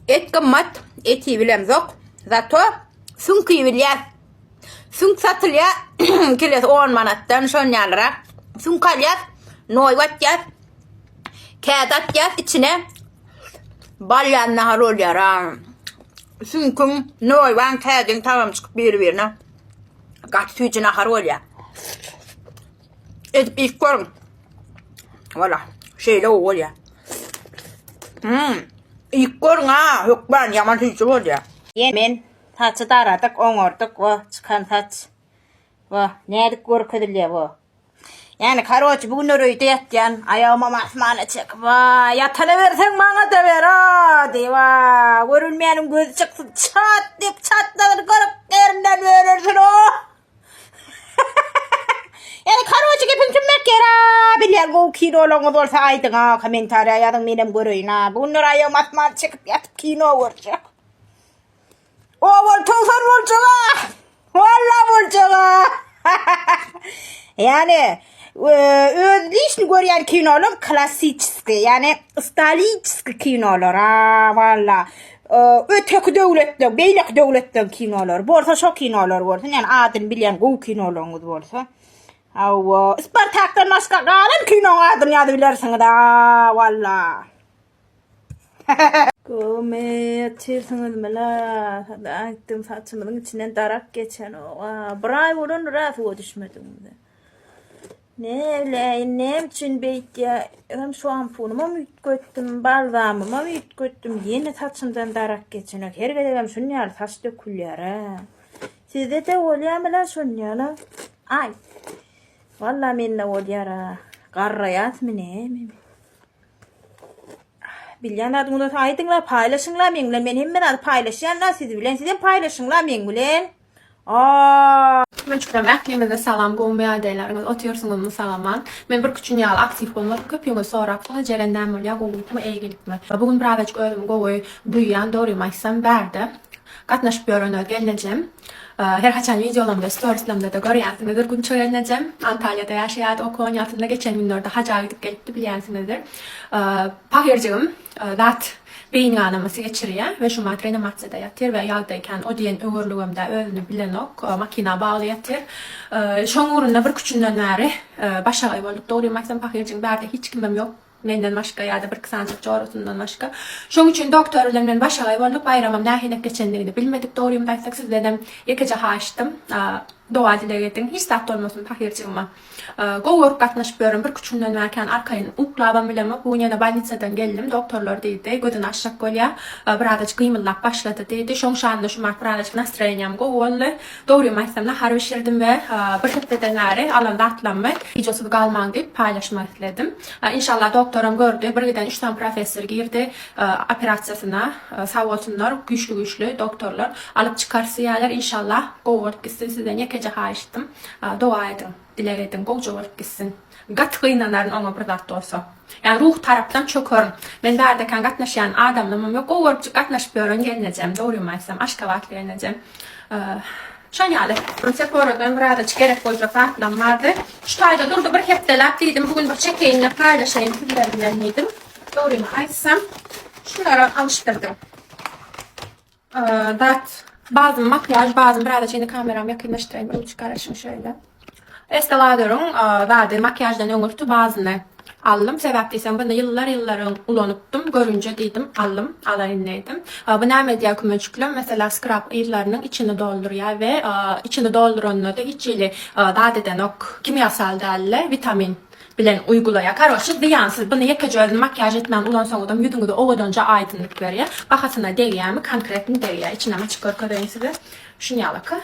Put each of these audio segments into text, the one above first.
Et gymmat, eti bilemzok. Zato süňki bilýäs. Süňk satylýar kilesi 10 manatdan şon ýalyrak. Süňk alýas, noý batýas. Kädi atýas içine. Bal ýaly nahar bolýar. Süňküň, noýbaň, kädiň tagamy çykyp biri-birine. Gaty süýji nahar bolýar. Edip ilk görün. Wala, şeýle o bolýa. Hmm. Ilk görün ha, hökman ýaman süýji bolýa. Ýen men saçy daradyk, oňardyk we çykan saç we nädip görkezilýä bu. Yani karoç bu günler öýde ýatýan, aýagyma masmana çek. Wa, ýatana berseň maňa da ber, a, diý, wa, görülmeýäniň gözi çyksyn. Çat diýip çatladyr görüp derinden örülsin, o. Yani karoçi gepini tümmek gera. Bilýän gowy kinolaryňyz bolsa aýdyň ha, kommentariýa ýazyň menem göreýin ha. Bu günler aýagym asman çekip ýatyp kino görjek. O bol towsan boljak ha. Walla boljak ha. Yani Özlişni görýän kinolar klassiçski, ýagny staliçski kinolar. A, walla. Öteki döwletler, beýleki döwletler kinolar. Bolsa şo kinolar bolsun, ýagny adyny bilýän gowy kinolaryňyz bolsa. Awa, Spartakdan başga galan kinoň adyny ýazyp bilersiňiz. A, walla. Gomy ýetişirsiňiz mila? Aýtdym saçymyň içinden darak geçen oga. Bir aý bolan raz o düşmediň. Näleýin, näme üçin beýtýär? Hem şampunymam üýtgetdim, balzamymam üýtgetdim, ýene saçymdan darak geçenok. Her gezegem şuny ýaly saç dökülýär-ä. Sizde-de bolýarmy-la şuny ýaly? Aý. Walla mende bolýar-a. Garraýasmy näme? Bilýän zady bolsa aýdyň-la, paýlaşyň-la meň bilen. Men hemme zady paýlaşýan-la siz bilen. Sizem paýlaşyň-la meň bilen. Aaa. Türkmençiklerim ähliňize salam gowymy ýagdaýlaryňyz otyrsyňyzmy sagaman men bir küçün ýaly aktiw bolmadym köp ýüňe sorapsyňyz jeren näme bolýa gowulykmy eýgilikmi bu gün birazajyk özümi gowy duýýan dogrymy aýtsam bärde gatnaşyp ýören öz gelnejem her haçan wideolamda storislamdada görýänsiňizdir gunça gelnejem antaliýada ýaşaýardy okuwan ýatymda geçen günlerde haja gidip gelipdi bilýänsiňizdir pahyrjygym. zat beýin ganamasy geçirýär we şu mat reanimasiýada ýatyr we ýagdaýy kän o diýen öwürligimde özüni bilenok, makina bagly ýatyr. Şoň ugrunda bir küçünden bäri başagaý bolduk. Dogrymy aýtsam pahyrjyň bärde hiç kimem ýok menden başga ýa-da bir-iki sanjyk jorasyndan başga. Şoň üçin doktor bilen men başagaý bolduk. Baýramam nähilek geçendigini bilmedik dogrymyzy aýtsak sizdenem ýekeje haýyştym doga-dileg ediň hiç zat bolmasyn pahyrjygyma. Gowy görüp gatnaşyp ýörün birküç günden bäri kän arkaýyn uklabam bilemok bu gün ýene bolnitsadan geldim doktorlar diýdi gözün açjak bolýa birazajyk gymyldap başlady diýdi şoň şanyna şu mart birazajyk nastroýeniýam gowy boldy dogrymy aýtsam nahar bişirdim we bir hepdeden bäri alan zatlammy wideosyz galmaň diýip paýlaşmak isledim inşallah doktoram gördi birgiden üç sany professor girdi operasiýasyna sag bolsunlar güýçli güýçli doktorlar alyp çykarys diýýäler inşallah gowy bolup gitsin sizden ýekeje haýyştym Doga ediň, dileg ediň, gowja bolup gitsin. Gaty gynanaryn oňa bir zat bolsa. Ýa ruhy tarapdan çökerin. Men bärdekän gatnaşýan adamlamam ýok. Gowy görüp gatnaşyp ýören gelnejem, dogrymy aýtsam, aşgabatly gelnejem. Şol ýaly. Seforadan birazajyk gerek boljak zatlam bardy. Şu taýda durdy bir hepdeläp diýdim, bu gün bir çekeýin-de paýlaşaýyn sizler bilen diýdim. Dogrymy aýtsam, şularam alyşdyrdym. Dat bazyny makiýaž bazyny biraz şeýle kameramy ýakynlaşdyraýyn ruçka garaşyň şeýle. Estee Lauder'yň zady makiýaždan öňürti bazyny aldym. Sebäp diýseň bunu ýyllar ýyllaryň ulanypdym. Görünje diýdim aldym. Alaýyn diýdim. Bu näme edýär kümeçiklem meselä skrap yzlarynyň içini doldurýar we içini dolduranda-da hiç hili zat edenok. Kimýasal däldi. Witamin. bilen uygulaýar karoçi zyýansyz buny ýekeje özüni makiýaž etmän ulansaňyzam ýüzüňizi owadanja aýdynylyk berýär bahasyna degýärmi konkretno degýär içinem açyp görkezeýin size şunýalaka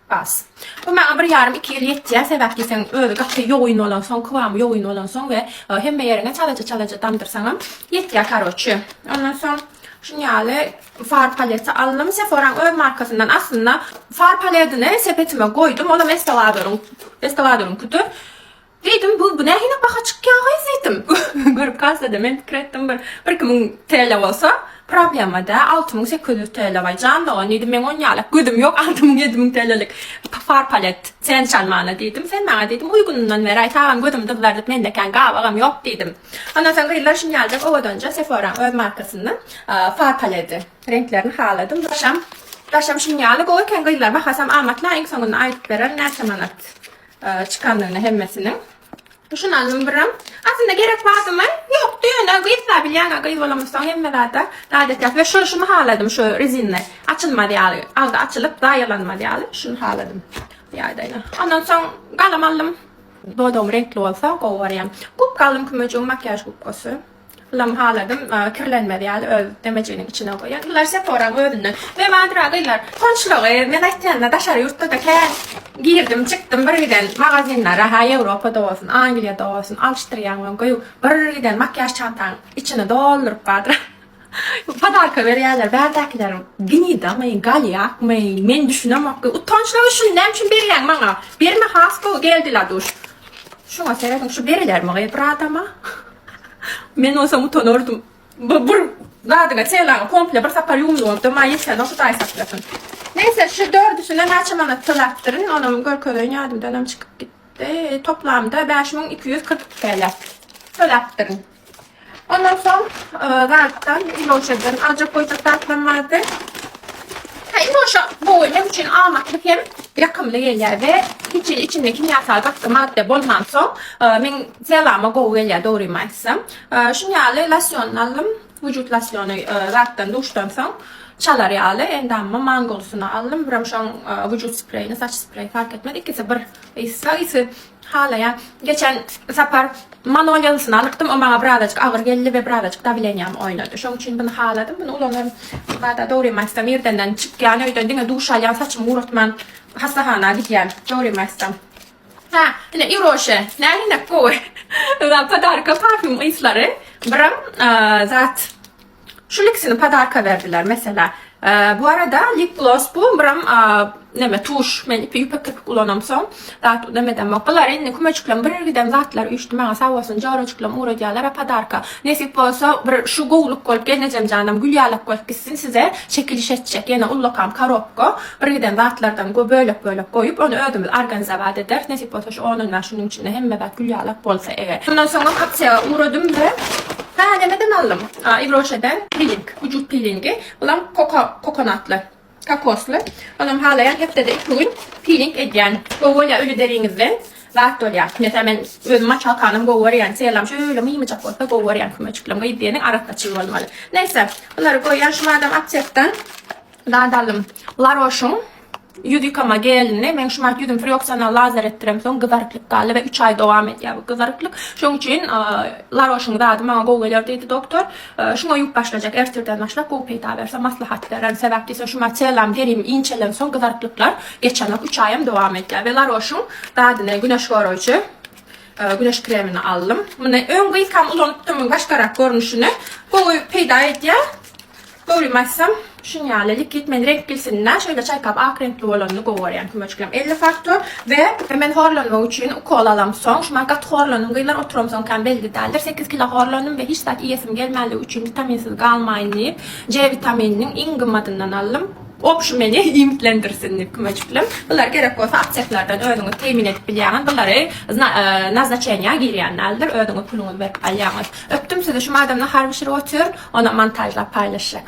bas bu maňa bir ýarym iki ýyl ýetýär sebäp diýseň özi gaty ýogyn bolansoň kybamy ýogyn bolansoň we hemme ýeriňe çalaja çalaja damdyrsaňam ýetýär karoçi ondan soň şunýaly far paleti aldym seforaň öz markasyndan aslynda far paledini sepetime goýdum olam estewadaryň estewadaryňkydyr Diýdim, bu bu nähili baha çykýagy diýdim. Görüp galsada men pikir etdim bir bir iki müň TL bolsa problema dä, alty müň sekiz ýüz TL baý jan dogan diýdim, meň on ýalak gözüm ýok alty müň ýedi müň TLlik far palet sen çalmana diýdim, sen maňa diýdim uýgunyndan beräý sagam gözüm dyzlardyp mende kän gabagam ýok diýdim. Ondan soň gyzlar şuny ýaljak owadanja Sephora-nyň öz markasyndan far paledi reňklerini haladym daşam daşam şuny ýaly gowy eken gyzlar bahasam amatly iň soňunda aýdyp berer näçe manat Çykandygyna hemmesiniň. Düşünendim birem. Aslynda gerek bardymy? Ýokdy ýöne gyzsa bilýäňä gyz bolamyzsoň hemme zada adat ýaly we şo şuny haladym şu rezinli açylmaz ýaly agzy açylyp zaýalanmaz ýaly şuny haladym bu ýagdaýda. Ondan soň galam aldym. Dodagyň reňkli bolsa gowy barýar. Gubka aldym kümejigim makiýaž gubkasy. Ylamy haladym, kirlenmez ýaly öz demejiniň içine goýan. Ýyllar Seporaň özünden bebandyra gyzlar. Soňçulagy men aýtýanyma daşary ýurtda-da kän girdim, çykdym bir giden magazinlere, ha Ýewropada bolsun, Angliýada bolsun, alyşdyrýaň we göýä bir giden makiýaž çantaň içini dolduryp bardyr. Podarka berýärler, bärdäkiler gnidamy, galýakmy, men düşünemokgy, utançlygy şuny näme üçin berýäň maňa? Berme has gowy geldi Laduş. Şuňa serediň, şu berilermi gyz bir adama? Men bolsam utanardym. Bu bir zadyňa çeýlaňa komple bir sapar ýuwumly bolupdyr. Maňa ýetýänok Hudaý saklasyn. Neýse şu dördüsine näçe manat töläpdirin onam görkezeýin ýadymdanam çykyp gitdi. Toplamda bäş müň iki ýüz kyrk iki TL töläpdirin. Ondan soň zatdan Miloşadan aljak boljak zatlam bardy. Ha Miloşa bu men üçin amatly hem ýakymly gelýär we hiç içinde kimýasal gaty madda bolmansoň men Selama gowy gelýär dogrymy aýtsam. Şuň ýaly losýonyny aldym. Wujut losýony zatdan duşdan soň çalar ýaly. Endamyma mangolysyny aldym. Birem şoň wujut spreýini, saç spreýi fark etmez. Ikisi bir ysy, ysy halaýan. Geçen sapar manolýalysyny alypdym. O maňa birazajyk agyr geldi we birazajyk dawleniýam oýnady. Şoň üçin buny haladym. Buny ulanaryn. Bada dogrymy aýtsam irdenden çykýan öýden diňe duş alýan saçymy guratman hassahana gidýän dogrymy aýtsam. Hä, ine Iroşe, nähilinek gowy. Ynha, podarka parfýum yslary. Biram zat şul ikisini podarka berdiler, meselä. Bu arada lip gloss bu, biram näme tuş. Men ipi ýüpek kirpik ulanam soň, zat nemedemok. Bular indi kümejikleň bir giden zatlar üýşdi maňa sag bolsun jorajyklam ugradýarlar-a podarka. Nesip bolsa bir şu gowluk bolup gelnejem janam gül ýalak bolup gitsin size çekiliş etjek ýene ullakam korobka. Birgiden zatlardan go bölek bölek goýup ony özümiz arganizawat ederis nesip bolsa şu onundan şunuň içinde hemme zat gül ýalak bolsa eger. Şundan soňam aksiýaga ugradym we Hä nämeden aldym? A Ýwroşeden piling, wujut pilingi, bulam koko kokonatly, kokosly. Onam halaýan hepdede iki gün piling edýän. Gowy bolýar öýle deriňizden zat bolýar. Mesalan men özüm maçalkanam gowy görýän. Çyýelam şöyle mymyjak bolsa gowy görýän kümeciklim. Gyz diýeniň arassaçyl bolmaly. Neýse bulary goýýan şumadam aptekdan. Nadalym, Laroşyň ýüz ýykama gelini, meň şu wagt ýüzüm frýoksional lazer etdiremsoň gyzaryklyk galdy we üç aý dowam edýär bu gyzaryklyk. Şoň üçin Laroşyň zady maňa gowy geler diýdi doktor. Şuňa ýuwup başlajak, ertirden başlap gowy peýda berse maslahat bererin. Sebäp diýseň şu micellam gerim inçelensoň gyzaryklyklar geçenok, üç aýam dowam edýär we Laroşyň zadyny, güneş goraýjy güneş kremini aldym. Muny öň gyzkam ulanypdym, başgarak görnüşini. Gowy peýda edýär. Dogrymy aýtsam, şuň ýaly likit meni reňk bilsin-dä, şeýle çaýkap ak reňkli bolanyny gowy görýän kümürjiklerim elli faktor we men horlanmak üçin ukol alamsoň, şuňa gaty horlandym gyzlar oturamsoň kän belli däldir, sekiz kilo horlandym we hiç zat iýesim gelmänligi üçin witaminsiz galmaýyn diýip C witamininiň iň gymmadyndan aldym, ol şu meni iýmitlendirsin diýip kümürjiklim, bular gerek bolsa apteklerden özüňiz teýmin edip bilýäňiz, bulary naznaçeniýa girýän däldir, özüňiz puluňyzy berip alýaňyz. Öpdüm sizi şu maydamda harby şir otyr onam montajlap paýlaşjak.